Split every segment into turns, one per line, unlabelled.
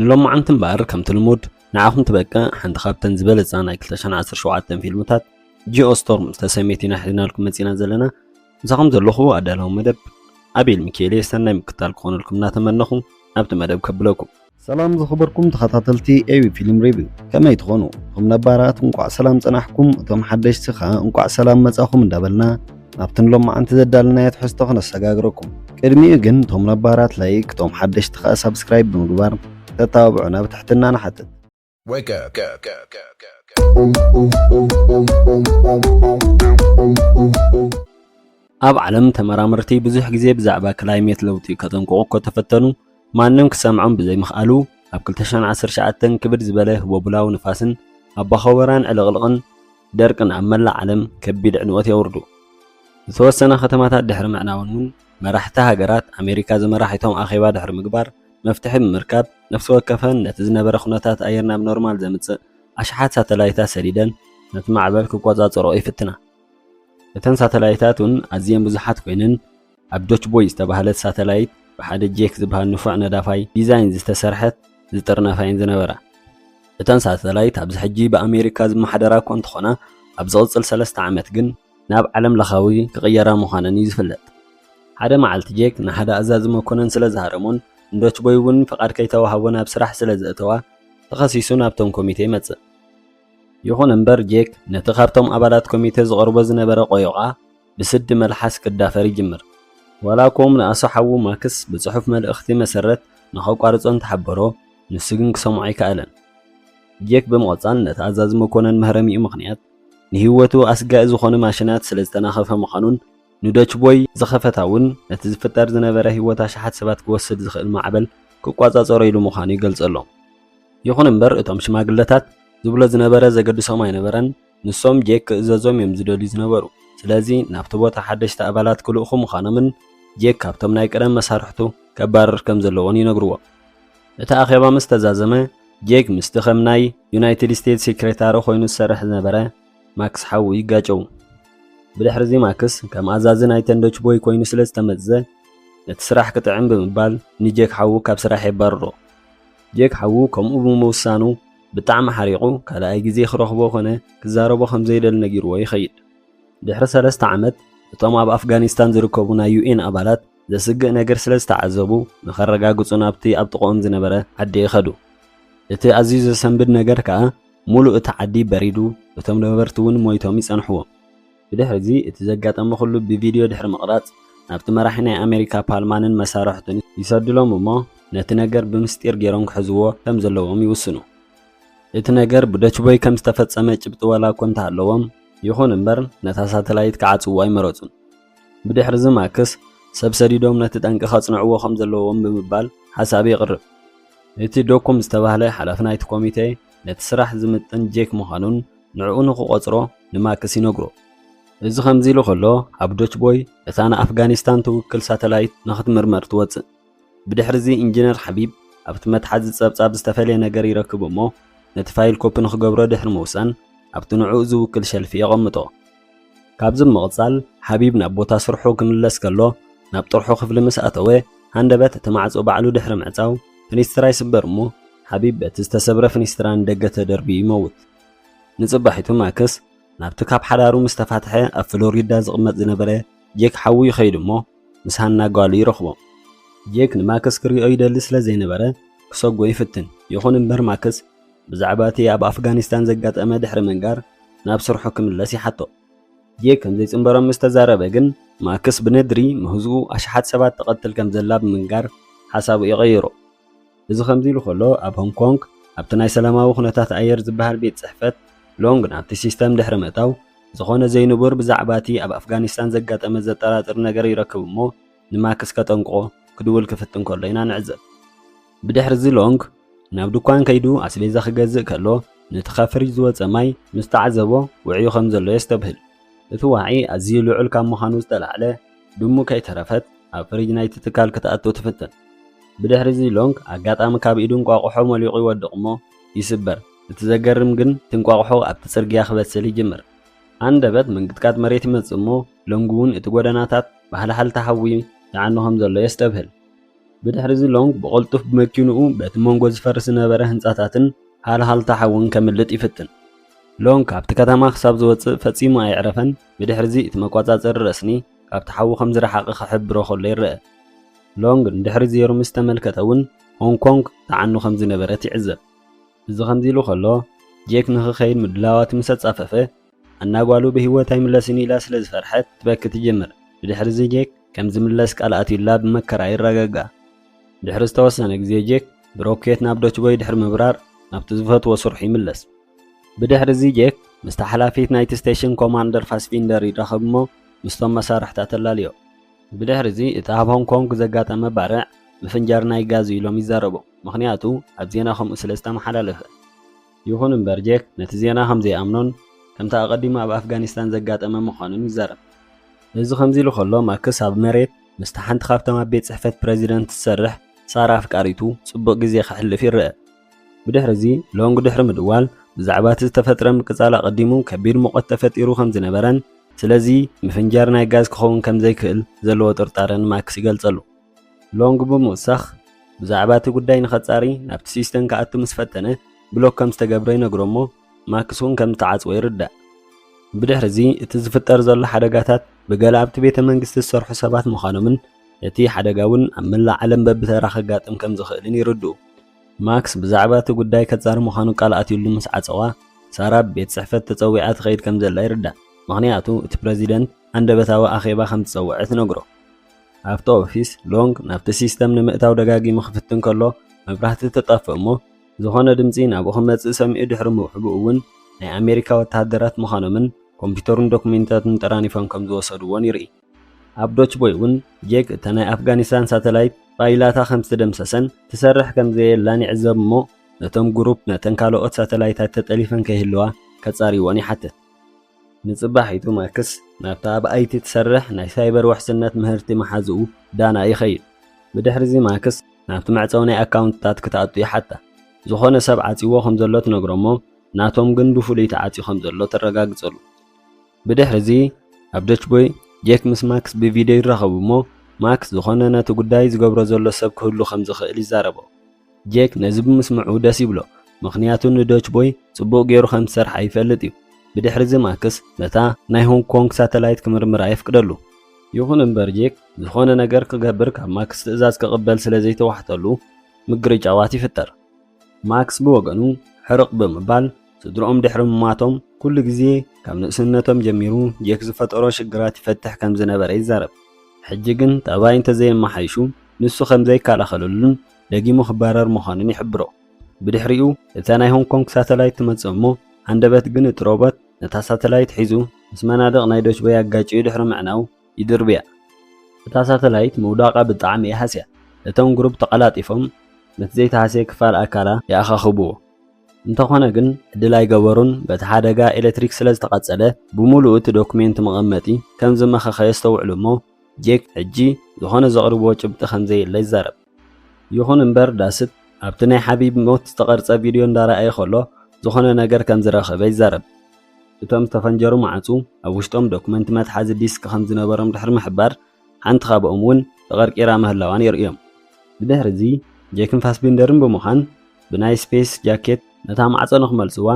ንሎማዓንቲ እምበኣር ከምቲ ልሙድ ንዓኹም ትበቅዕ ሓንቲ ካብተን ዝበለጻ ናይ ክልተ ሽሕን ዓሰርተ ሸውዓተን ፊልምታት ጂኦ ስቶርም ዝተሰምየት ኢና ሒዝናልኩም መጺእና ዘለና ምሳኹም ዘለኹ ኣዳላዊ መደብ ኣቤል ሚካኤልየ ሰናይ ምክታል ክኾነልኩም እናተመነኹ ናብቲ መደብ ከብለኩም ሰላም ዝኸበርኩም ተኸታተልቲ ኤቢ ፊልም ሪቪው ከመይ ትኾኑ እቶም ነባራት እንቋዕ ሰላም ጸናሕኩም እቶም ሓደሽቲ ኸኣ እንቋዕ ሰላም መጻኹም እንዳበልና ናብቲ ንሎማዓንቲ ዘዳልናዮ ትሕዝቶ ክነሰጋግረኩም ቅድሚኡ ግን እቶም ነባራት ላይክ እቶም ሓደሽቲ ከኣ ሳብስክራይብ ብምግባር ክተተባብዑና ብትሕትና ንሓትት። Wake up.
Go,
go, go, go, go. ኣብ ዓለም ተመራመርቲ ብዙሕ ግዜ ብዛዕባ ክላይሜት ለውጢ ከጠንቅቑ እኮ ተፈተኑ፣ ማንም ክሰምዖም ብዘይምኽኣሉ ኣብ ክልተ ሽሕን ዓሰርተ ትሽዓተን ክብድ ዝበለ ህቦብላዊ ንፋስን ኣባኾበራን ዕልቕልቕን ደርቅን ኣብ መላእ ዓለም ከቢድ ዕንወት የውርዱ። ዝተወሰና ከተማታት ድሕሪ ምዕናወን እውን መራሕቲ ሃገራት ኣሜሪካ ዝመራሒቶም ኣኼባ ድሕሪ ምግባር መፍትሒ ብምርካብ ነፍሲ ወከፈን ነቲ ዝነበረ ኩነታት ኣየር ናብ ኖርማል ዘምጽእ ኣሽሓት ሳተላይታት ሰዲደን ነቲ ማዕበል ክቆጻጸርኦ ይፍትና። እተን ሳተላይታት እውን ኣዝየን ብዙሓት ኮይነን፣ ኣብ ዶችቦይ ዝተባህለት ሳተላይት ብሓደ ጄክ ዝበሃል ንፉዕ ነዳፋይ ዲዛይን ዝተሰርሐት ዝጥርነፋ እየን ዝነበራ። እተን ሳተላይት ኣብዚ ሕጂ ብኣሜሪካ ዝመሓደራ እኳ እንተኾና፣ ኣብ ዝቕጽል ሰለስተ ዓመት ግን ናብ ዓለምለኻዊ ክቕየራ ምዃነን እዩ ዝፍለጥ። ሓደ መዓልቲ ጄክ ንሓደ ኣዛዚ መኮነን ስለ ዝሃረሞን ንዶችቦይ እውን ፍቓድ ከይተዋህቦ ናብ ስራሕ ስለ ዘእተዋ፣ ተኸሲሱ ናብቶም ኮሚቴ ይመጽእ። ይኹን እምበር ጄክ ነቲ ካብቶም ኣባላት ኮሚቴ ዝቐርቦ ዝነበረ ቆዮቓ፣ ብስዲ መልሓስ ክዳፈር ይጅምር። ዋላ እኮ ምንኣሱ ሓዉ ማክስ ብጽሑፍ መልእኽቲ መሰረት ንኸቋርጾ እንተሓበሮ፣ ንሱ ግን ክሰምዖ ኣይከኣለን። ጄክ ብምቕጻል ነቲ ኣዛዚ መኮነን መህረሚኡ ምኽንያት ንህይወቱ ኣስጋኢ ዝኾነ ማሽናት ስለ ዝተናኸፈ ምዃኑን ንዶች ቦይ ዝኸፈታ እውን ነቲ ዝፍጠር ዝነበረ ህይወት ኣሽሓት ሰባት ክወስድ ዝኽእል ማዕበል ክቋጻጸሮ ኢሉ ምዃኑ ይገልጸሎም። ይኹን እምበር እቶም ሽማግለታት ዝብሎ ዝነበረ ዘገድሶም ኣይነበረን። ንሶም ጄክ ክእዘዞም እዮም ዝደልዩ ዝነበሩ፣ ስለዚ ናብቲ ቦታ ሓደሽቲ ኣባላት ክልእኹ ምዃኖምን ጄክ ካብቶም ናይ ቀደም መሳርሕቱ ከባርር ከም ዘለዎን ይነግርዎ። እቲ ኣኼባ ምስ ተዛዘመ፣ ጄክ ምስቲ ከም ናይ ዩናይትድ ስቴትስ ሴክሬታሪ ኮይኑ ዝሰርሕ ዝነበረ ማክስ ሓዉ ይጋጨዉ። ብድሕሪዚ ማክስ ከም ኣዛዚ ናይ ተንዶች ቦይ ኮይኑ ስለ ዝተመዝዘ ነቲ ስራሕ ክጥዕም ብምባል ንጄክ ሓዉ ካብ ስራሕ የባርሮ። ጄክ ሓዉ ከምኡ ብምውሳኑ፣ ብጣዕሚ ሓሪቑ ካልኣይ ግዜ ክረኽቦ ኮነ ክዛረቦ ከም ዘይደሊ ነጊርዎ ይኸይድ። ድሕሪ ሰለስተ ዓመት፣ እቶም ኣብ ኣፍጋኒስታን ዝርከቡ ናይ ዩኤን ኣባላት ዘስግእ ነገር ስለ ዝተዓዘቡ ንኸረጋግጹ ናብቲ ኣብ ጥቕኦም ዝነበረ ዓዲ ከዱ። እቲ ኣዝዩ ዘሰንብድ ነገር ከኣ፣ ምሉእ እቲ ዓዲ በሪዱ፣ እቶም ነበርቲ እውን ሞይቶም ይጸንሕዎም። ብድሕርዚ እቲ ዘጋጠመ ኩሉ ብቪድዮ ድሕሪ ምቕራጽ ናብቲ መራሒ ናይ ኣሜሪካ ፓልማንን መሳርሕቱን ይሰድሎም እሞ ነቲ ነገር ብምስጢር ጌሮም ክሕዝዎ ከም ዘለዎም ይውስኑ። እቲ ነገር ብዶችቮይ ከም ዝተፈጸመ ጭብጢ ዋላ እኮ እንተሃለዎም፣ ይኹን እምበር ነታ ሳተላይት ክዓጽውዎ ኣይመረጹን። ብድሕርዚ ማክስ ሰብ ሰዲዶም ነቲ ጠንቂ ከጽንዕዎ ከም ዘለዎም ብምባል ሓሳብ የቕርብ። እቲ ዶኩም ዝተባህለ ሓላፊ ናይቲ ኮሚቴ ነቲ ስራሕ ዝምጥን ጄክ ምዃኑን ንዕኡ ንኽቖጽሮ ንማክስ ይነግሮ። እዚ ከምዚ ኢሉ ከሎ ኣብ ዶችቦይ እታ ንኣፍጋኒስታን ትውክል ሳተላይት ንኽትምርመር ትወጽእ። ብድሕሪዚ ኢንጂነር ሓቢብ ኣብቲ መትሓዚ ጸብጻብ ዝተፈልየ ነገር ይረክብ እሞ ነቲ ፋይል ኮፒ ንኽገብሮ ድሕሪ ምውሳን ኣብቲ ንዕኡ ዝውክል ሸልፊ የቐምጦ። ካብዚ ብምቕጻል ሓቢብ ናብ ቦታ ስርሑ ክምለስ ከሎ ናብ ጥርሑ ክፍሊ ምስ ኣተወ ሃንደበት እቲ ማዕጾ ባዕሉ ድሕሪ ምዕጻው ፍኒስትራ ይስበር እሞ ሓቢብ በቲ ዝተሰብረ ፍኒስትራ ንደገ ተደርብዩ ይመውት። ንጽባሒቱ ማክስ ናብቲ ካብ ሓዳሩ ምስ ተፋትሐ ኣብ ፍሎሪዳ ዝቕመጥ ዝነበረ ጄክ ሓዉ ይኸይድ እሞ ምስ ሃና ጓሉ ይረኽቦም። ጄክ ንማክስ ክሪኦ ይደሊ ስለ ዘይነበረ ክሰጎ ይፍትን ይኹን እምበር ማክስ ብዛዕባ እቲ ኣብ ኣፍጋኒስታን ዘጋጠመ ድሕሪ ምንጋር ናብ ስርሑ ክምለስ ይሓቶ። ጌግ ከም ዘይጽንበሮም ምስ ተዛረበ ግን፣ ማክስ ብነድሪ ምህዝኡ ኣሽሓት ሰባት ትቐትል ከም ዘላ ብምንጋር ሓሳቡ እዩ ቀይሩ። እዚ ከምዚ ኢሉ ከሎ፣ ኣብ ሆንግ ኮንግ ኣብቲ ናይ ሰላማዊ ኩነታት ኣየር ዝበሃል ቤት ጽሕፈት፣ ሎንግ ናብቲ ሲስተም ድሕሪ ምእታው፣ ዝኾነ ዘይንቡር ብዛዕባ እቲ ኣብ ኣፍጋኒስታን ዘጋጠመ ዘጠራጥር ነገር ይረክብ እሞ ንማክስ ከጠንቅቖ ክድውል ክፍትን ከሎ ኢና ንዕዘብ። ብድሕርዚ ሎንግ ናብ ድኳን ከይዱ ኣስቤዛ ክገዝእ ከሎ ነቲ ካብ ፍሪጅ ዝወጸ ማይ ምስ ተዓዘቦ ውዕዩ ከም ዘሎ የስተብህል። እቲ ዋዒ ኣዝዩ ልዑል ካብ ምዃኑ ዝተላዕለ ድሙ ከይተረፈት ኣብ ፍሪጅ ናይቲ ትካል ክትኣቱ ትፍትን። ብድሕርዚ ሎንግ ኣጋጣሚ ካብ ኢዱ እንቋቑሖ ሞሊቑ ይወድቕ እሞ ይስበር። እቲ ዘገርም ግን እቲ እንቋቑሖ ኣብቲ ጽርግያ ክበስል ይጅምር። ሃንደበት ምንቅጥቃጥ መሬት ይመጽእ እሞ ሎንግ'ውን እቲ ጎደናታት ብሃልሃልታ ሓዊ ይዓኑ ከም ዘሎ የስተብህል። ብድሕርዚ ሎንግ ብቐልጡፍ ብመኪንኡ በቲ መንጎ ዝፈርስ ዝነበረ ህንጻታትን ሃልሃልታ ሓውን ከምልጥ ይፍትን። ሎንግ ካብቲ ከተማ ክሳብ ዝወጽእ ፈጺሙ ኣየዕረፈን፣ ብድሕርዚ እቲ መቋጻጸሪ ረስኒ ካብቲ ሓዊ ከም ዝረሓቐ ክሕብሮ ከሎ ይረኣ። ሎንግ ንድሕሪት ዜሩ ምስ ተመልከተ እውን ሆንግ ኮንግ ትዓኑ ከም ዝነበረት ይዕዘብ። እዚ ከምዚ ኢሉ ከሎ ጄክ ንኽከይድ ምድላዋቱ ምስ ኣጻፈፈ፣ ኣና ጓሉ ብህይወት ኣይምለስን ኢላ ስለ ዝፈርሐት ክትበኪ ትጅምር። ብድሕሪ'ዚ ጄክ ከም ዝምለስ ቃል ኣትዩላ ብመከራ ይረጋጋእ። ድሕሪ ዝተወሰነ ግዜ ጄክ ብሮኬት ናብ ዶችቦይ ድሕሪ ምብራር ናብቲ ዝፈትዎ ስርሑ ይምለስ። ብድሕሪ'ዚ ጄክ ምስታ ሓላፊት ናይቲ ስቴሽን ኮማንደር ፋስቢንደር ይራኸብ'ሞ ምስቶም መሳርሕታ ተላልዮ። ብድሕሪ'ዚ እቲ ኣብ ሆንግ ኮንግ ዘጋጠመ ባርዕ ምፍንጃር ናይ ጋዝ'ዩ ኢሎም ይዛረቡ፣ ምኽንያቱ ኣብ ዜና ከምኡ ስለ ዝተመሓላለፈ። ይኹን እምበር ጄክ ነቲ ዜና ከም ዘይኣምኖን ከምቲ ኣቐዲሙ ኣብ ኣፍጋኒስታን ዘጋጠመ ምዃኑን ይዛረብ። እዚ ከምዚሉ ከሎ ማክስ ኣብ መሬት ምስታ ሓንቲ ካብቶም ኣብ ቤት ጽሕፈት ፕረዚደንት ትሰርሕ ሳራ ኣፍቃሪቱ ጽቡቕ ግዜ ከሕልፍ ይረኣ። ብድሕሪዚ ሎንግ ድሕሪ ምድዋል ብዛዕባ እቲ ዝተፈጥረ ምቅጻል ኣቐዲሙ ከቢድ ሙቐት ተፈጢሩ ከም ዝነበረን ስለዚ ምፍንጃር ናይ ጋዝ ክኸውን ከም ዘይክእል ዘለዎ ጥርጣረ ንማክስ ይገልጸሉ። ሎንግ ብምውሳኽ ብዛዕባ እቲ ጉዳይ ንኸጻሪ ናብቲ ሲስተም ክኣቱ ምስ ፈተነ ብሎክ ከም ዝተገብረ ይነግሮ እሞ ማክስ እውን ከም ዝተዓጽወ ይርዳእ። ብድሕሪ እዚ እቲ ዝፍጠር ዘሎ ሓደጋታት ብገለ ኣብቲ ቤተ መንግስቲ ዝሰርሑ ሰባት ምዃኖምን እቲ ሓደጋ እውን ኣብ መላእ ዓለም በብተራ ከጋጥም ከም ዝኽእልን ይርድኡ። ማክስ ብዛዕባ እቲ ጉዳይ ከጻሪ ምዃኑ ቃል ኣትዩሉ ምስ ዓጸዋ፣ ሳራ ኣብ ቤት ጽሕፈት ተጸዊዓ ትኸይድ ከም ዘላ ይርዳእ፣ ምኽንያቱ እቲ ፕረዚደንት ሃንደበታዊ ኣኼባ ከም ዝጸውዐ ትነግሮ። ኣብቲ ኦፊስ ሎንግ ናብቲ ሲስተም ንምእታው ደጋጊሙ ክፍትን ከሎ መብራህቲ ትጠፍእ እሞ ዝኾነ ድምፂ ናብኡ ክመፅእ ሰሚዑ ድሕሪ ምውሕቡ እውን ናይ ኣሜሪካ ወተሃደራት ምዃኖምን ኮምፒተሩን ዶክሜንታቱን ጠራኒፎም ከም ዝወሰድዎን ይርኢ። ኣብ ዶችቦይ እውን ጄክ እታ ናይ ኣፍጋኒስታን ሳተላይት ፋይላታ ከም ዝተደምሰሰን ትሰርሕ ከም ዘየላን ይዕዘብ እሞ ነቶም ግሩፕ ነተን ካልኦት ሳተላይታት ተጠሊፈን ከይህልዋ ከፃርይዎን ይሓትት። ንጽባሒቱ ማክስ ናብታ ኣብ ኣይቲ ትሰርሕ ናይ ሳይበር ውሕስነት ምህርቲ መሓዝኡ ዳና ይኸይድ። ብድሕሪ'ዚ ማክስ ናብቲ መዕጸዊ ናይ ኣካውንትታት ክትኣቱ ይሓታ። ዝኾነ ሰብ ዓጽይዎ ከም ዘሎ ትነግሮ'ሞ ናቶም ግን ብፍሉይ ተዓጽዩ ከም ዘሎ ተረጋግጸሉ። ብድሕሪ'ዚ ኣብ ደችቦይ ጄክ ምስ ማክስ ብቪድዮ ይራኸቡ'ሞ ማክስ ዝኾነ ነቲ ጉዳይ ዝገብሮ ዘሎ ሰብ ክህሉ ከም ዝኽእል ይዛረቦ። ጄክ ነዚ ብምስምዑ ደስ ይብሎ፣ ምኽንያቱ ንዶች ቦይ ጽቡቕ ገይሩ ከም ዝሰርሓ ይፈልጥ እዩ። ብድሕሪዚ ማክስ ነታ ናይ ሆንግ ኮንግ ሳተላይት ክምርምራ የፍቅደሉ። ይኹን እምበር ጄክ ዝኾነ ነገር ክገብር ካብ ማክስ ትእዛዝ ክቕበል ስለ ዘይተዋሕጠሉ ምግርጫዋት ይፍጠር። ማክስ ብወገኑ ሕርቕ ብምባል ስድርኦም ድሕሪ ምሟቶም ኩሉ ግዜ ካብ ንእስነቶም ጀሚሩ ጄክ ዝፈጠሮ ሽግራት ይፈትሕ ከም ዝነበረ ይዛረብ። ሕጂ ግን ጠባይ እንተዘየመሓይሹ ንሱ ከም ዘይከላኸለሉን ደጊሙ ክባረር ምዃኑን ይሕብሮ። ብድሕሪኡ እታ ናይ ሆንግ ኮንግ ሳተላይት ትመጽእ እሞ ሃንደበት ግን እቲ ሮቦት ነታ ሳተላይት ሒዙ ምስ መናድቕ ናይ ዶችቦይ ኣጋጭዩ ድሕሪ ምዕናው ይድርብያ። እታ ሳተላይት ምውዳቓ ብጣዕሚ እያ ሃስያ። እቶም ግሩፕ ተቐላጢፎም ነቲ ዘይተሃስየ ክፋል ኣካላ ይኣኻኽብዎ። እንተኾነ ግን ዕድል ኣይገበሩን፣ በቲ ሓደጋ ኤለትሪክ ስለ ዝተቓጸለ ብሙሉኡ እቲ ዶኩሜንት መቐመጢ ከም ዝመኸኸ የስተውዕሉ እሞ ጄክ ሕጂ ዝኾነ ዘቕርብዎ ጭብጢ ከም ዘየለ ይዛረብ። ይኹን እምበር ዳስት ኣብቲ ናይ ሓቢብ ሞት ዝተቐርጸ ቪድዮ እንዳረኣየ ከሎ ዝኾነ ነገር ከም ዝረኸበ ይዛረብ። እቶም ዝተፈንጀሩ መዓጹ ኣብ ውሽጦም ዶክመንት መትሓዚ ዲስክ ከም ዝነበሮም ድሕሪ ምሕባር፣ ሓንቲ ካብኦም'ውን ተቐርቂራ ምህላዋን የርእዮም። ብድሕሪ'ዚ ጄክን ፋስቢንደርን ብምዃን ብናይ ስፔስ ጃኬት ነታ ማዕጾ ንኽመልስዋ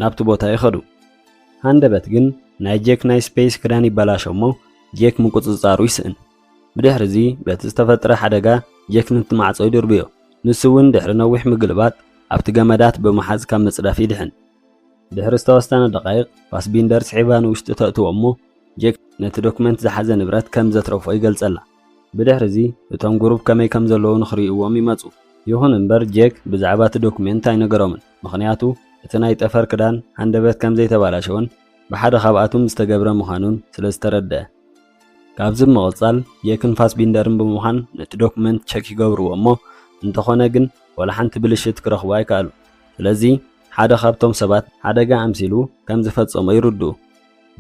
ናብቲ ቦታ ይኸዱ። ሃንደበት ግን ናይ ጄክ ናይ ስፔስ ክዳን ይበላሾ'ሞ ጄክ ምቁጽጻሩ ይስእን። ብድሕርዚ በቲ ዝተፈጥረ ሓደጋ ጀክ ንቲ ማዕጾ ይድርብዮ። ንሱ እውን ድሕሪ ነዊሕ ምግልባጥ ኣብቲ ገመዳት ብምሓዝ ካብ ምጽዳፍ ይድሕን። ድሕሪ ዝተወሰነ ደቓይቕ ፋስቢንደር ስሒባ ንውሽጢ ተእትዎ እሞ ጀክ ነቲ ዶክመንት ዝሓዘ ንብረት ከም ዘትረፎ ይገልጸላ። ብድሕርዚ እቶም ጉሩብ ከመይ ከም ዘለዉ ንኽርእይዎም ይመጹ። ይኹን እምበር ጀክ ብዛዕባ እቲ ዶክመንት ኣይነገሮምን ምኽንያቱ እቲ ናይ ጠፈር ክዳን ሃንደበት ከም ዘይተባላሸወን ብሓደ ካብኣቱም ዝተገብረ ምዃኑን ስለ ዝተረደኣ። ካብዚ ብምቕጻል የክን ፋስቢንደርን ብምዃን ነቲ ዶኩመንት ቸክ ይገብርዎ እሞ እንተኾነ ግን ወላ ሓንቲ ብልሽት ክረኽቡ ኣይከኣሉ ስለዚ ሓደ ካብቶም ሰባት ሓደጋ ኣምሲሉ ከም ዝፈጸሞ ይርድኡ።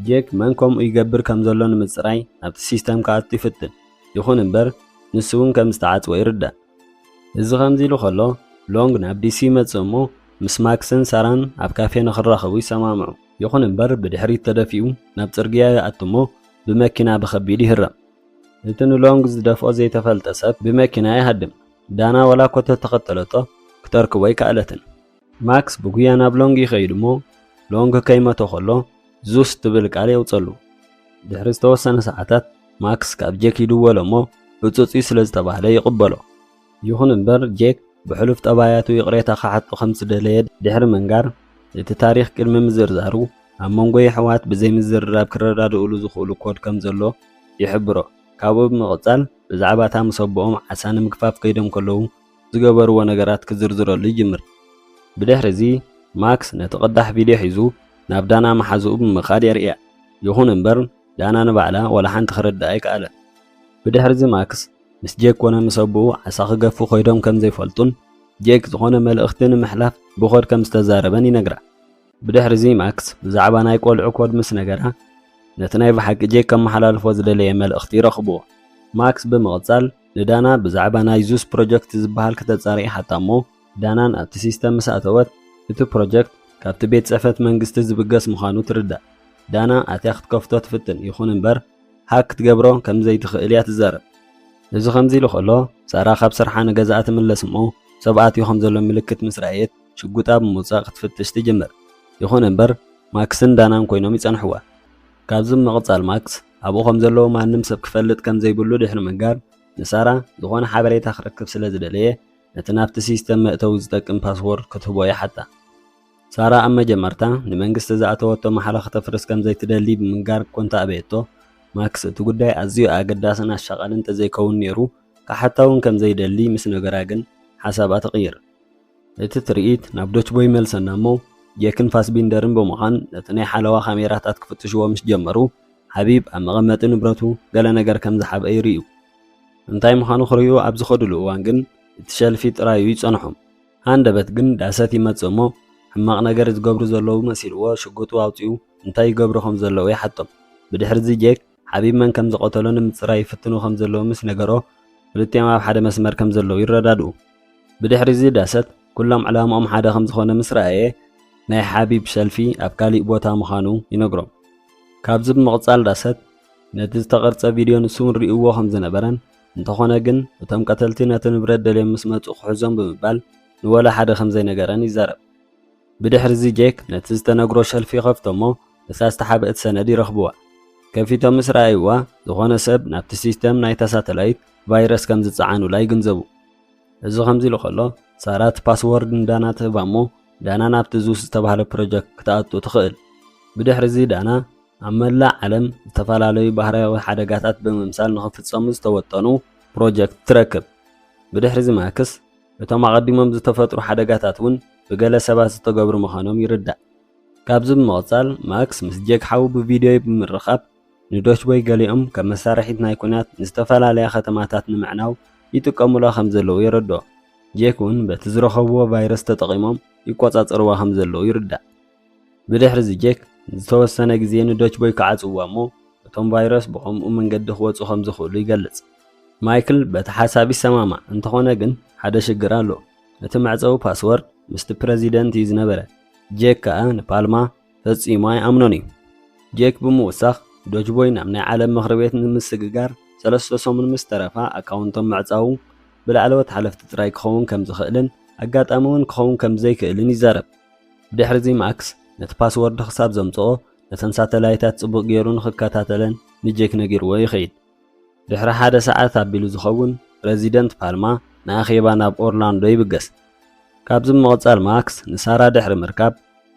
ጄክ መን ከምኡ ይገብር ከም ዘሎ ንምጽራይ ናብቲ ሲስተም ክኣቱ ይፍትን ይኹን እምበር ንሱ እውን ከም ዝተዓጽወ ይርዳእ። እዚ ከምዚ ኢሉ ከሎ ሎንግ ናብ ዲሲ ይመጽእ እሞ ምስ ማክስን ሳራን ኣብ ካፌ ንኽራኸቡ ይሰማምዑ። ይኹን እምበር ብድሕሪት ተደፊኡ ናብ ጽርግያ ይኣቱ እሞ ብመኪና ብኸቢድ ይህረም። እቲ ንሎንግ ዝደፍኦ ዘይተፈልጠ ሰብ ብመኪና ይሃድም። ዳና ዋላ እኮ ተተኸተለቶ ክተርክቦ ኣይከኣለትን። ማክስ ብጉያ ናብ ሎንግ ይኸይድ እሞ ሎንግ ከይመቶ ከሎ ዙስ ትብል ቃል የውጸሉ። ድሕሪ ዝተወሰነ ሰዓታት ማክስ ካብ ጄክ ይድወሎ እሞ ዕጹጽ'ዩ ስለ ዝተባህለ ይቕበሎ። ይኹን እምበር ጄክ ብሕሉፍ ጠባያቱ ይቕሬታ ክሓቶ ከም ዝደለየ ድሕሪ ምንጋር፣ እቲ ታሪኽ ቅድሚ ምዝርዛሩ፣ ኣብ መንጎ የሕዋት ብዘይምዝርራብ ክረዳድኡሉ ዝኽእሉ ኮድ ከም ዘሎ ይሕብሮ። ካብኡ ብምቕጻል ብዛዕባ እታ ምስ ኣቦኦም ዓሳ ንምግፋፍ ከይዶም ከለዉ ዝገበርዎ ነገራት ክዝርዝረሉ ይጅምር። ብድሕሪ'ዚ ማክስ ነቲ ቅዳሕ ቪድዮ ሒዙ ናብ ዳና መሓዝኡ ብምኻድ የርእያ። ይኹን እምበር ዳና ንባዕላ ዋላ ሓንቲ ክርድኣ ኣይከኣለን። ብድሕሪ'ዚ ማክስ ምስ ጄክ ኮነ ምስ ኣቦኡ ዓሳ ክገፉ ከይዶም ከም ዘይፈልጡን ጄክ ዝኾነ መልእኽቲ ንምሕላፍ ብኮድ ከም ዝተዛረበን ይነግራ። ብድሕሪ'ዚ ማክስ ብዛዕባ ናይ ቆልዑ ኮድ ምስ ነገራ ነቲ ናይ ብሓቂ ጄክ ከመሓላልፎ ዝደለየ መልእኽቲ ይረኽብዎ። ማክስ ብምቕጻል ንዳና ብዛዕባ ናይ ዙስ ፕሮጀክት ዝበሃል ክተጻሪ ይሓታ እሞ ዳናን ኣብቲ ሲስተም ምስ ኣተወት እቲ ፕሮጀክት ካብቲ ቤት ጽሕፈት መንግስቲ ዝብገስ ምዃኑ ትርዳእ። ዳና ኣትያ ክትከፍቶ ትፍትን ይኹን እምበር ሃክ ክትገብሮ ከም ዘይትኽእል እያ ትዛረብ። እዚ ከምዚሉ ከሎ፣ ሳራ ካብ ስርሓ ንገዛኣ ትምለስ እሞ፣ ሰብ ኣትዩ ከም ዘሎ ምልክት ምስ ረኣየት ሽጉጣ ብምውጻእ ክትፍትሽ ትጅምር። ይኹን እምበር፣ ማክስን ዳናን ኰይኖም ይጸንሑዋ። ካብዚ ብምቕጻል ማክስ ኣብኡ ከም ዘለዉ ማንም ሰብ ክፈልጥ ከም ዘይብሉ ድሕሪ ምንጋር፣ ንሳራ ዝዀነ ሓበሬታ ክረክብ ስለ ዝደለየ ነቲ ናብቲ ሲስተም መእተዊ ዝጠቅም ፓስዎርድ ክትህቦ ይሓታ። ሳራ ኣብ መጀመርታ ንመንግስቲ ዝኣተወቶ ማሕላ ከተፍርስ ከም ዘይትደሊ ብምንጋር እኮ እንተ ኣበየቶ፣ ማክስ እቲ ጉዳይ ኣዝዩ ኣገዳስን ኣሻቓልን እንተ ዘይከውን ነይሩ ክሓታ እውን ከም ዘይደሊ ምስ ነገራ ግን ሓሳባ ትቕይር። እቲ ትርኢት ናብ ዶችቦ ይመልሰና እሞ፣ ጄክን ፋስቢንደርን ብምዃን ነቲ ናይ ሓለዋ ካሜራታት ክፍትሽዎ ምስ ጀመሩ፣ ሓቢብ ኣብ መቐመጢ ንብረቱ ገለ ነገር ከም ዝሓብአ ይርእዩ። እንታይ ምዃኑ ክርእዩ ኣብ ዝኸድሉ እዋን ግን እቲ ሸልፊ ጥራይ እዩ ዝጸንሖም። ሃንደበት ግን ዳሰት ይመጽእ እሞ ሕማቕ ነገር ዝገብሩ ዘለዉ መሲልዎ ሽጉጡ ኣውጺኡ እንታይ ይገብሩ ከም ዘለዉ ይሓቶም። ብድሕሪዚ ጄክ ሓቢብ መን ከም ዝቐተሎ ንምጽራይ ይፍትኑ ከም ዘለዉ ምስ ነገሮ ክልቲኦም ኣብ ሓደ መስመር ከም ዘለዉ ይረዳድኡ። ብድሕሪዚ ዳሰት ኩሎም ዕላምኦም ሓደ ከም ዝኾነ ምስ ረኣየ ናይ ሓቢብ ሸልፊ ኣብ ካሊእ ቦታ ምዃኑ ይነግሮም። ካብዚ ብምቕጻል ዳሰት ነቲ ዝተቐርጸ ቪድዮ ንሱውን ሪኡዎ ከም ዝነበረን እንተኾነ ግን እቶም ቀተልቲ ነቲ ንብረት ደልዮም ምስ መጹ ክሕዞም ብምባል ንወላ ሓደ ከም ዘይነገረን ይዛረብ። ብድሕሪዚ ጄክ ነቲ ዝተነግሮ ሸልፍ ይኸፍቶ'ሞ እታ ዝተሓብእት ሰነድ ይረኽብዋ። ከፊቶም ምስ ረኣይዋ ዝኾነ ሰብ ናብቲ ሲስተም ናይታ ሳተላይት ቫይረስ ከም ዝጸዓኑላ ይግንዘቡ። እዚ ከምዚ ኢሉ ከሎ ሳራ እቲ ፓስዎርድ ንዳና ትህባ'ሞ ዳና ናብቲ ዙስ ዝተባህለ ፕሮጀክት ክትኣቱ ትኽእል። ብድሕሪዚ ዳና፣ ኣብ መላእ ዓለም ዝተፈላለዩ ባህርያዊ ሓደጋታት ብምምሳል ንኽፍጸሙ ዝተወጠኑ ፕሮጀክት ትረክብ። ብድሕሪዚ ማክስ፣ እቶም ኣቐዲሞም ዝተፈጥሩ ሓደጋታት እውን ብገለ ሰባት ዝተገብሩ ምዃኖም ይርዳእ። ካብዚ ብምቕጻል ማክስ ምስ ጄክ ሓዉ ብቪድዮይ ብምርኻብ ንዶችቦይ ገሊኦም ከም መሳርሒት ናይ ኲናት ንዝተፈላለያ ከተማታት ንምዕናው ይጥቀሙላ ከም ዘለዉ የረድኦ። ጄክ እውን በቲ ዝረኸብዎ ቫይረስ ተጠቒሞም ይቆጻጸርዋ ከም ዘለዉ ይርዳእ። ብድሕሪ'ዚ ጀክ ንዝተወሰነ ግዜ ንዶች ቦይ ክዓጽውዋ እሞ እቶም ቫይረስ ብኸምኡ መንገዲ ክወጹ ከም ዝኽእሉ ይገልጽ። ማይክል በቲ ሓሳብ ይሰማማዕ፣ እንተዀነ ግን ሓደ ሽግር ኣሎ። እቲ መዕጸዊ ፓስወርድ ምስቲ ፕረዚደንት እዩ ዝነበረ፣ ጀክ ከኣ ንፓልማ ፈጺሙ ኣይኣምኖን እዩ። ጀክ ብምውሳኽ፣ ዶች ቦይ ናብ ናይ ዓለም ምኽሪ ቤት ንምስግጋር ሰለስተ ሰሙን ምስ ተረፋ ኣካውንቶም ምዕጻዉ ብላዕለዎት ሓለፍቲ ጥራይ ክኸውን ከም ዝኽእልን ኣጋጣሚ'ውን ክኸውን ከም ዘይክእልን ይዛረብ። ብድሕርዚ ማክስ ነቲ ፓስዎርድ ክሳብ ዘምጽኦ ነተን ሳተላይታት ጽቡቕ ገይሩ ንኽከታተለን ንጄክ ነጊርዎ ይኸይድ። ድሕሪ ሓደ ሰዓት ኣቢሉ ዝኸውን ፕረዚደንት ፓልማ ንኣኼባ ናብ ኦርላንዶ ይብገስ። ካብዚ ብምቕጻል ማክስ ንሳራ ድሕሪ ምርካብ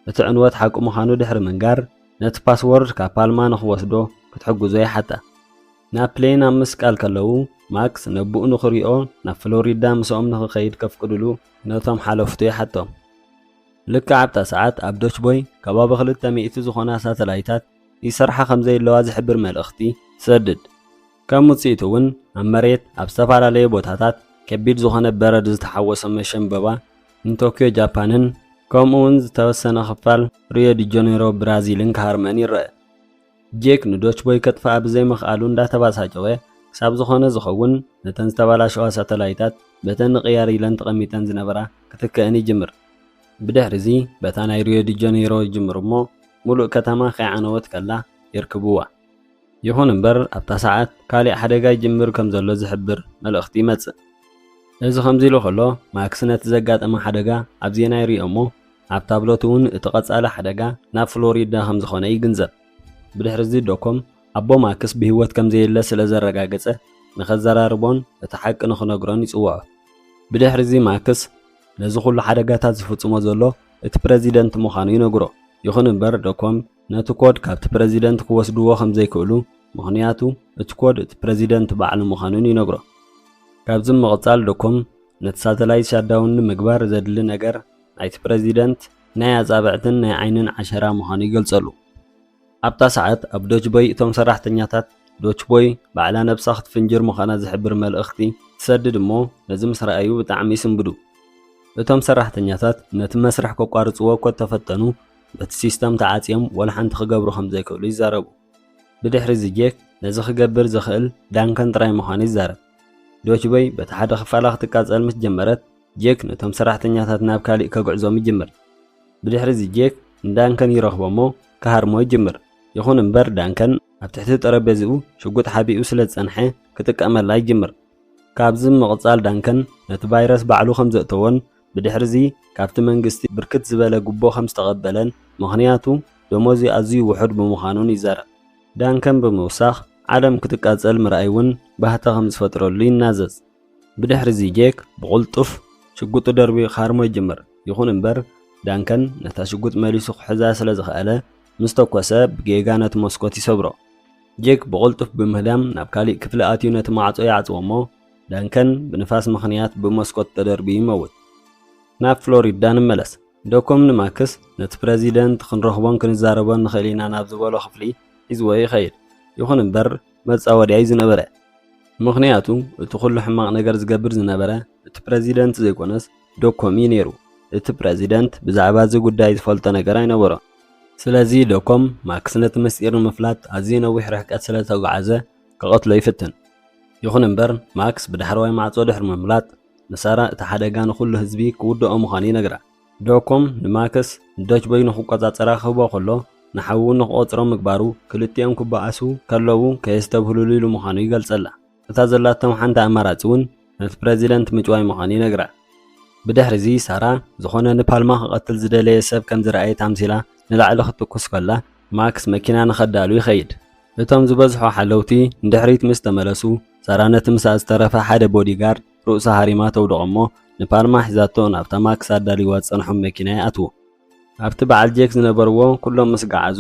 እቲ ዕንወት ሓቂ ምዃኑ ድሕሪ ምንጋር ነቲ ፓስዎርድ ካብ ፓልማ ንኽወስዶ ክትሕግዞ ይሓታ። ናብ ፕሌን ኣብ ምስቃል ከለዉ፣ ማክስ ነቦኡ ንኽሪኦ ናብ ፍሎሪዳ ምስኦም ንኽኸይድ ከፍቅዱሉ ነቶም ሓለፍቱ ይሓቶም። ልክዕ ኣብታ ሰዓት ኣብ ዶችቦይ ከባቢ ክልተ ሚእቲ ዝኾና ሳተላይታት ይሰርሓ ከም ዘይለዋ ዝሕብር መልእኽቲ ትሰድድ። ከም ውጽኢቱ እውን ኣብ መሬት ኣብ ዝተፈላለየ ቦታታት ከቢድ ዝኾነ በረድ ዝተሓወሶ መሸምበባ ንቶክዮ ጃፓንን ከምኡውን ዝተወሰነ ክፋል ሪዮ ዲጀኔሮ ብራዚልን ክሃርመን ይረኣ። ጄክ ንዶችቦይ ከጥፍኣ ብዘይምኽኣሉ እንዳተባሳጨወ፣ ክሳብ ዝኾነ ዝኸውን ነተን ዝተባላሸዋ ሳተላይታት በተን ንቕያር ኢለን ተቐሚጠን ዝነበራ ክትክእን ይጅምር። ብድሕሪዚ በታ ናይ ሪዮ ዲ ጀኔሮ ይጅምሩ እሞ ሙሉእ ከተማ ከይዓነወት ከላ የርክብዋ። ይኹን እምበር ኣብታ ሰዓት ካሊእ ሓደጋ ይጅምር ከምዘሎ ዝሕብር መልእኽቲ ይመጽእ። እዚ ከምዚሉ ከሎ ማክስ ነቲ ዘጋጠማ ሓደጋ ኣብ ዜና ይሪኦ እሞ ኣብ ታብለት'ውን እቲ ቀጻሊ ሓደጋ ናብ ፍሎሪዳ ከም ዝዀነ ይግንዘብ። ብድሕሪ'ዚ ዶኮም ኣቦ ማክስ ብህይወት ከም ዘየለ ስለ ዘረጋገጸ ንከዘራርቦን እቲ ሓቂ ንኽነግሮን ይጽውዖ። ብድሕሪ'ዚ ማክስ ነዚ ዅሉ ሓደጋታት ዝፍጽሞ ዘሎ እቲ ፕረዚደንት ምዃኑ ይነግሮ። ይኹን እምበር ዶኮም ነቲ ኮድ ካብቲ ፕረዚደንት ክወስድዎ ከም ዘይክእሉ ምኽንያቱ እቲ ኮድ እቲ ፕረዚደንት ባዕሉ ምዃኑን ይነግሮ። ካብዚ ብምቕጻል ዶኮም ነቲ ሳተላይት ሻትዳውን ንምግባር ዘድሊ ነገር ናይቲ ፕረዚደንት ናይ ኣጻብዕትን ናይ ዓይንን ዓሸራ ምዃኑ ይገልጸሉ። ኣብታ ሰዓት ኣብ ዶችቦይ እቶም ሰራሕተኛታት ዶችቦይ ባዕላ ነብሳ ክትፍንጅር ምዃና ዝሕብር መልእኽቲ ትሰድድ እሞ ነዚ ምስ ረኣዩ ብጣዕሚ ይስንብዱ። እቶም ሰራሕተኛታት ነቲ መስርሕ ከቋርጽዎ እኮ እተፈተኑ በቲ ሲስተም ተዓጽዮም ወላ ሓንቲ ክገብሩ ከም ዘይክእሉ ይዛረቡ። ብድሕሪ እዚ ጄክ ነዚ ክገብር ዝኽእል ዳንከን ጥራይ ምዃኑ ይዛረብ። ዶችቦይ በቲ ሓደ ክፋላ ክትቃጸል ምስ ጀመረት ጄክ ነቶም ሰራሕተኛታት ናብ ካልእ ከግዕዞም ይጅምር። ብድሕርዚ ጄክ ንዳንከን ይረኽቦ እሞ ክሃርሞ ይጅምር። ይኹን እምበር ዳንከን ኣብ ትሕቲ ጠረጴዝኡ ሽጉጥ ሓቢኡ ስለ ዝጸንሐ ክጥቀመላ ይጅምር። ካብዚ ብምቕጻል ዳንከን ነቲ ቫይረስ ባዕሉ ከም ዘእተዎን ብድሕርዚ ካብቲ መንግስቲ ብርክት ዝበለ ጉቦ ከም ዝተቐበለን ምኽንያቱ ደሞዙ ኣዝዩ ውሑድ ብምዃኑን ይዛረብ። ዳንከን ብምውሳኽ ዓለም ክትቃጸል ምርኣይ እውን ባህታ ከም ዝፈጥረሉ ይናዘዝ። ብድሕርዚ ጄክ ብቕልጡፍ ሽጉጡ ደርብዩ ክሃርሞ ይጅምር፣ ይኹን እምበር ዳንከን ነታ ሽጉጥ መሊሱ ክሕዛ ስለ ዝኸኣለ፣ ምስ ተኮሰ ብጌጋ ነቲ መስኮት ይሰብሮ። ጄክ ብቕልጡፍ ብምህዳም ናብ ካልእ ክፍሊ ኣትዩ ነቲ ማዕጾ ይዓጽዎ'ሞ፣ ዳንከን ብንፋስ ምኽንያት ብመስኮት ተደርብዩ ይመውት። ናብ ፍሎሪዳ ንመለስ። ዶኮም ንማክስ ነቲ ፕረዚደንት ክንረኽቦን ክንዛረቦን ንኽእል ኢና ናብ ዝበሎ ክፍሊ ሒዝዎ ይኸይድ፣ ይኹን እምበር መጻወድያ'ዩ ዝነበረ። ምኽንያቱ እቲ ኩሉ ሕማቕ ነገር ዝገብር ዝነበረ እቲ ፕረዚደንት ዘይኮነስ ዶኮም'ዩ ነይሩ። እቲ ፕረዚደንት ብዛዕባ እዚ ጉዳይ ዝፈልጦ ነገር ኣይነበሮን። ስለዚ ዶኮም ማክስ ነቲ ምስጢር ንምፍላጥ ኣዝዩ ነዊሕ ርሕቀት ስለ ዝተጓዕዘ ክቐትሎ ይፍትን። ይኹን እምበር ማክስ ብዳሕረዋይ ማዕጾ ድሕሪ ምምላጥ ንሳራ እቲ ሓደጋ ንኹሉ ህዝቢ ክውድኦ ምዃኑ ይነግራ። ዶኮም ንማክስ ንደችቦይ ንኽቆጻጸራ ክህቦ ከሎ ንሓዉ ንኽቖጽሮ ምግባሩ ክልቲኦም ክበኣሱ ከለዉ ከየስተብህሉሉ ኢሉ ምዃኑ ይገልጸላ። እታ ዘላቶም ሓንቲ ኣማራጺ እውን ነቲ ፕረዚደንት ምጭዋይ ምዃኑ ይነግራ። ብድሕሪዚ ሳራ ዝኾነ ንፓልማ ክቐትል ዝደለየ ሰብ ከም ዝረኣየት ኣምሲላ ንላዕሊ ክትትኩስ ከላ ማክስ መኪና ንኸዳሉ ይኸይድ። እቶም ዝበዝሑ ሓለውቲ ንድሕሪት ምስ ተመለሱ ሳራ ነቲ ምስኣ ዝተረፈ ሓደ ቦዲጋርድ ርእሳ ሃሪማ ተውድቖ'ሞ፣ ንፓልማ ሒዛቶ ናብታ ማክስ ኣዳልይዋ ዝጸንሖም መኪና ይኣትዉ። ኣብቲ በዓል ጄክ ዝነበርዎ ኩሎም ምስ ገዓዙ፣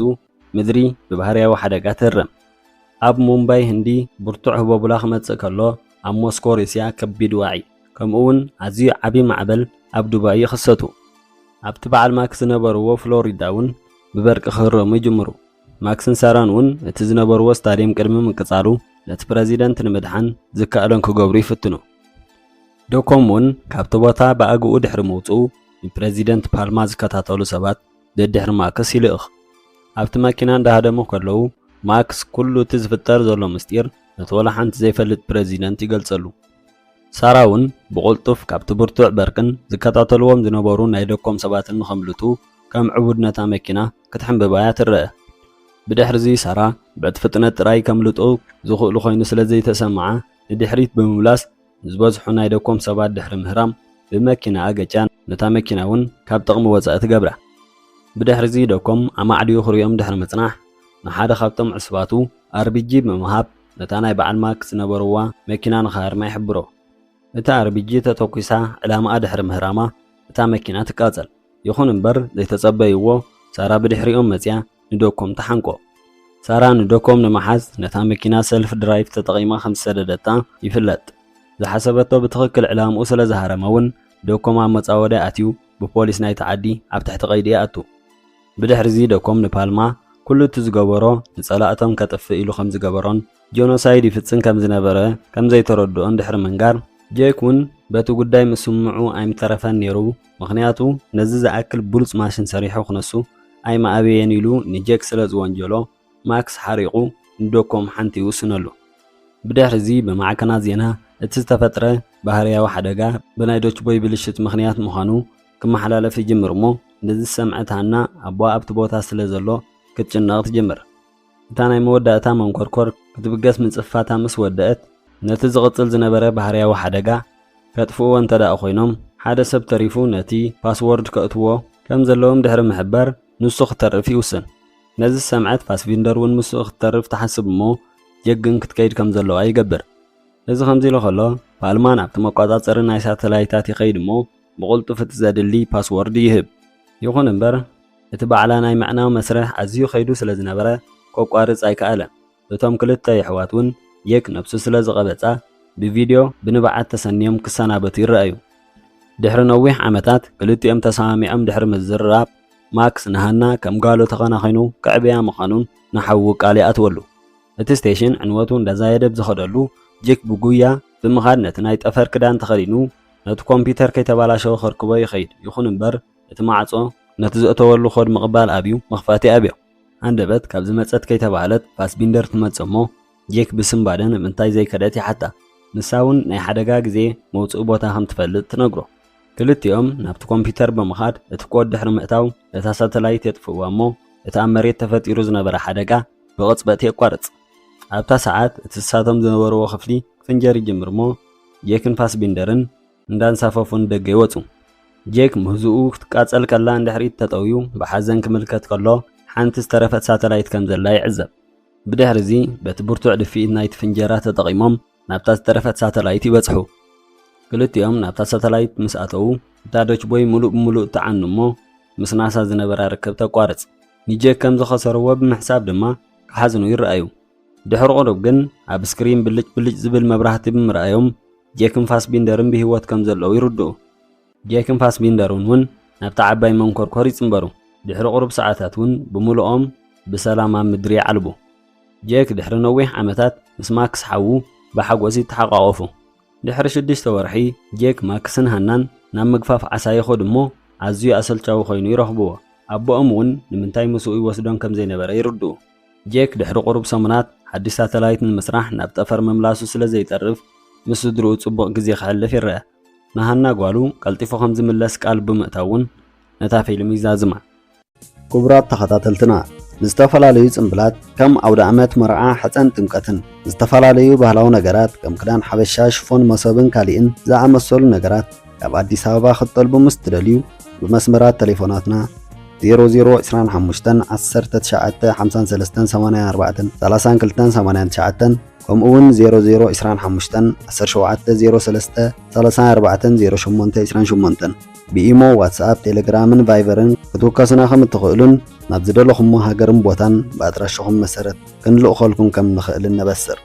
ምድሪ ብባህርያዊ ሓደጋ ትህረም። ኣብ ሙምባይ ህንዲ ብርቱዕ ህቦብላ ክመጽእ ከሎ፣ ኣብ ሞስኮ ሩስያ ከቢድ ዋዒ፣ ከምኡ'ውን ኣዝዩ ዓቢ ማዕበል ኣብ ዱባይ ይኽሰቱ። ኣብቲ በዓል ማክስ ዝነበርዎ ፍሎሪዳ'ውን ብበርቂ ክህረሙ ይጅምሩ። ማክስን ሳራን እውን እቲ ዝነበርዎ ስታድየም ቅድሚ ምቅጻሉ ነቲ ፕረዚደንት ንምድሓን ዝከኣሎም ክገብሩ ይፍትኑ። ዶኮም እውን ካብቲ ቦታ ብኣግኡ ድሕሪ ምውጽኡ ንፕረዚደንት ፓልማ ዝከታተሉ ሰባት ደድሕሪ ማክስ ይልእኽ። ኣብቲ መኪና እንዳሃደሙ ከለዉ ማክስ ኩሉ እቲ ዝፍጠር ዘሎ ምስጢር ነቲ ወላ ሓንቲ ዘይፈልጥ ፕረዚደንት ይገልጸሉ። ሳራ እውን ብቕልጡፍ ካብቲ ብርቱዕ በርቅን ዝከታተልዎም ዝነበሩ ናይ ዶኮም ሰባትን ንኸምልጡ ከም ዕቡድ ነታ መኪና ክትሕንብብ እያ ትረኣ። ብድሕርዚ ሳራ በቲ ፍጥነት ጥራይ ከምልጡ ዝኽእሉ ኮይኑ ስለ ዘይተሰምዓ ንድሕሪት ብምምላስ ንዝበዝሑ ናይ ደኮም ሰባት ድሕሪ ምህራም ብመኪናኣ ገጭያ ነታ መኪና እውን ካብ ጥቕሚ ወጻኢ ትገብራ። ብድሕርዚ ደኮም ኣማዕድዩ ክርእዮም ድሕሪ ምጽናሕ ንሓደ ካብቶም ዕሱባቱ ኣርቢጂ ብምሃብ ነታ ናይ በዓል ማክ ዝነበርዋ መኪና ንኽሃርማ ይሕብሮ። እታ ኣርቢጂ ተተኩሳ ዕላማኣ ድሕሪ ምህራማ እታ መኪና ትቃጸል። ይኹን እምበር ዘይተጸበይዎ ሳራ ብድሕሪኦም መጺኣ ንዶኮም ትሓንቆ። ሳራ ንዶኮም ንምሓዝ ነታ መኪና ሰልፍ ድራይቭ ተጠቒማ ከም ዝሰደደታ ይፍለጥ። ዝሓሰበቶ ብትኽክል ዕላምኡ ስለ ዝሃረመ'ውን ዶኮም ኣብ መጻወድያ ኣትዩ ብፖሊስ ናይቲ ዓዲ ኣብ ትሕቲ ቀይዲ ይኣቱ። ብድሕሪ'ዚ ዶኮም ንፓልማ ኩሉ እቲ ዝገበሮ ንጸላእቶም ከጥፍእ ኢሉ ከም ዝገበሮን ጆኖሳይድ ይፍጽም ከም ዝነበረ ከም ዘይተረድኦን ድሕሪ ምንጋር፣ ጄክ ውን በቲ ጉዳይ ምስምምዑ ኣይምተረፈን ነይሩ፣ ምኽንያቱ ነዚ ዝኣክል ብሉጽ ማሽን ሰሪሑ ክነሱ ኣይምኣበየን ኢሉ ንጄክ ስለ ዝወንጀሎ፣ ማክስ ሓሪቑ ንዶኮም ሓንቲ ይውስነሉ። ብድሕሪ'ዚ ብማዕከናት ዜና እቲ ዝተፈጥረ ባህርያዊ ሓደጋ ብናይ ዶችቦይ ብልሽት ምኽንያት ምዃኑ ክመሓላለፍ ይጅምር'ሞ፣ ነዚ ዝሰምዐት ሃና ኣቦኣ ኣብቲ ቦታ ስለ ዘሎ ክትጭነቕ ትጅምር። እታ ናይ መወዳእታ መንኮርኮር ክትብገስ ምጽፍፋታ ምስ ወደእት፣ ነቲ ዝቕጽል ዝነበረ ባህርያዊ ሓደጋ ከጥፍእዎ እንተድኣ ኮይኖም፣ ሓደ ሰብ ተሪፉ ነቲ ፓስዎርድ ከእትዎ ከም ዘለዎም ድሕሪ ምሕባር ንሱ ክተርፍ ይውስን። ነዚ ዝሰምዐት ፋስቪንደር እውን ምስኡ ክትተርፍ ትሓስብ እሞ ጀግን ክትከይድ ከም ዘለዋ ይገብር። እዚ ከምዚ ኢሉ ከሎ ፓልማን ኣብቲ መቋጻጸሪ ናይ ሳተላይታት ይኸይድ እሞ፣ ብቕልጡፍ እቲ ዘድሊ ፓስዎርድ ይህብ። ይኹን እምበር፣ እቲ ባዕላ ናይ ምዕናው መስርሕ ኣዝዩ ከይዱ ስለ ዝነበረ ከቋርጽ ኣይከኣለን። እቶም ክልተ የሕዋት'ውን የክ ነብሱ ስለ ዝቐበጻ ብቪድዮ ብንብዓት ተሰንዮም ክሰናበቱ ይረኣዩ። ድሕሪ ነዊሕ ዓመታት ክልቲኦም ተሰማሚዖም ድሕሪ ምዝርራብ፣ ማክስ ንሃና ከም ጓሉ ተኸናኺኑ ከዕብያ ምዃኑን ንሓዉ ቃል ይኣትወሉ። እቲ ስቴሽን ዕንወቱ እንዳዛየደ ብዝኸደሉ ጂክ ብጉያ ብምኻድ ነቲ ናይ ጠፈር ክዳን ተኸዲኑ ነቲ ኮምፒዩተር ከይተባላሸወ ከርክቦ ይኸይድ። ይኹን እምበር እቲ ማዕጾ ነቲ ዘእተወሉ ኮድ ምቕባል ኣብዩ፣ መኽፋቲ ኣብዮ። ሃንደበት ካብ ዝመጸት ከይተባህለት ፋስቢንደር ትመጽእ እሞ ጄክ ብስንባደ ንምንታይ ዘይከደት ይሓታ። ንሳ እውን ናይ ሓደጋ ግዜ መውጽኢ ቦታ ከም ትፈልጥ ትነግሮ። ክልቲኦም ናብቲ ኮምፒዩተር ብምኻድ እቲ ኮድ ድሕሪ ምእታው እታ ሳተላይት የጥፍእዋ እሞ እቲ ኣብ መሬት ተፈጢሩ ዝነበረ ሓደጋ ብቕጽበት የቋርጽ። ኣብታ ሰዓት እቲ ንሳቶም ዝነበርዎ ክፍሊ ክፍንጀር ይጅምር እሞ ጄክን ፋስቢንደርን እንዳንሳፈፉ ንደገ ይወጹ። ጄክ ምህዝኡ ክትቃጸል ከላ ንድሕሪት ተጠውዩ ብሓዘን ክምልከት ከሎ ሓንቲ ዝተረፈት ሳተላይት ከም ዘላ ይዕዘብ። ብድሕሪ'ዚ በቲ ብርቱዕ ድፍኢት ናይቲ ፍንጀራ ተጠቒሞም ናብታ ዝተረፈት ሳተላይት ይበጽሑ። ክልቲኦም ናብታ ሳተላይት ምስ ኣተዉ እታ ዶችቦይ ምሉእ ብምሉእ ትዓኑ እሞ ምስ ናሳ ዝነበራ ርክብ ተቋርጽ። ንጄክ ከም ዝኸሰርዎ ብምሕሳብ ድማ ክሓዝኑ ይረኣዩ። ድሕሪ ቁሩብ ግን ኣብ ስክሪን ብልጭ ብልጭ ዝብል መብራህቲ ብምርኣዮም ጄክን ፋስቢንደርን ብህይወት ከም ዘለዉ ይርድኡ። ጄክን ፋስቢንደርን እውን ናብታ ዓባይ መንኮርኮር ይጽንበሩ። ድሕሪ ቁሩብ ሰዓታት እውን ብምሉኦም ብሰላም ኣብ ምድሪ ይዓልቡ። ጄክ ድሕሪ ነዊሕ ዓመታት ምስ ማክስ ሓዉ ብሓጎስ ይተሓቛቖፉ። ድሕሪ ሽዱሽተ ወርሒ ጄክ፣ ማክስን ሃናን ናብ ምግፋፍ ዓሳ ይኸዱ እሞ ኣዝዩ ኣሰልቻዊ ኮይኑ ይረኽብዎ። ኣቦኦም እውን ንምንታይ ምስኡ ይወስዶን ከም ዘይነበረ ይርድኡ። ጄክ ድሕሪ ቁሩብ ሰሙናት ሓድሽ ሳተላይት ንምስራሕ ናብ ጠፈር ምምላሱ ስለ ዘይተርፍ ምስ ስድርኡ ጽቡቕ ግዜ ከሕልፍ ይረኣ። ንሃና ጓሉ ቀልጢፉ ከም ዝምለስ ቃል ብምእታው እውን ነታ ፊልም ይዛዝማ። ክቡራት ተኸታተልትና ንዝተፈላለዩ ጽምብላት ከም ኣውደኣመት፣ መርዓ፣ ሕጸን ጥምቀትን ዝተፈላለዩ ባህላዊ ነገራት ከም ክዳን ሓበሻ፣ ሽፎን፣ መሶብን ካሊእን ዝኣመሰሉ ነገራት፣ ካብ ኣዲስ ኣበባ ክትጠልቡ ምስ ትደልዩ ብመስመራት ተሌፎናትና 00251953843289 ከምኡውን 00251703304828 ብኢሞ ዋትስኣፕ ቴሌግራምን ቫይቨርን ክትውከሱና ከም እትኽእሉን ናብ ዝደለኹሞ ሃገርን ቦታን ብኣድራሻኹም መሰረት ክንልእኸልኩም ከም ንኽእልን ነበስር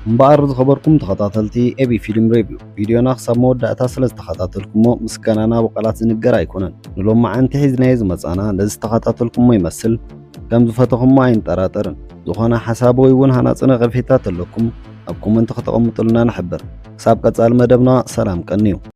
እምበኣር ዝኸበርኩም ተኸታተልቲ ኤቢ ፊልም ሬቪው ቪድዮና ክሳብ መወዳእታ ስለ ዝተኸታተልኩሞ ምስጋናና ብቓላት ዝንገር ኣይኮነን። ንሎማዓንቲ ሒዝናዮ ዝመጻና ነዚ ዝተኸታተልኩሞ ይመስል ከም ዝፈተኹሞ ኣይንጠራጠርን። ዝኾነ ሓሳብ ወይ እውን ሃናጺ ነቐፌታ ተለኩም ኣብ ኮመንቲ ከተቐምጡልና ንሕብር። ክሳብ ቀጻሊ መደብና ሰላም ቀንዩ።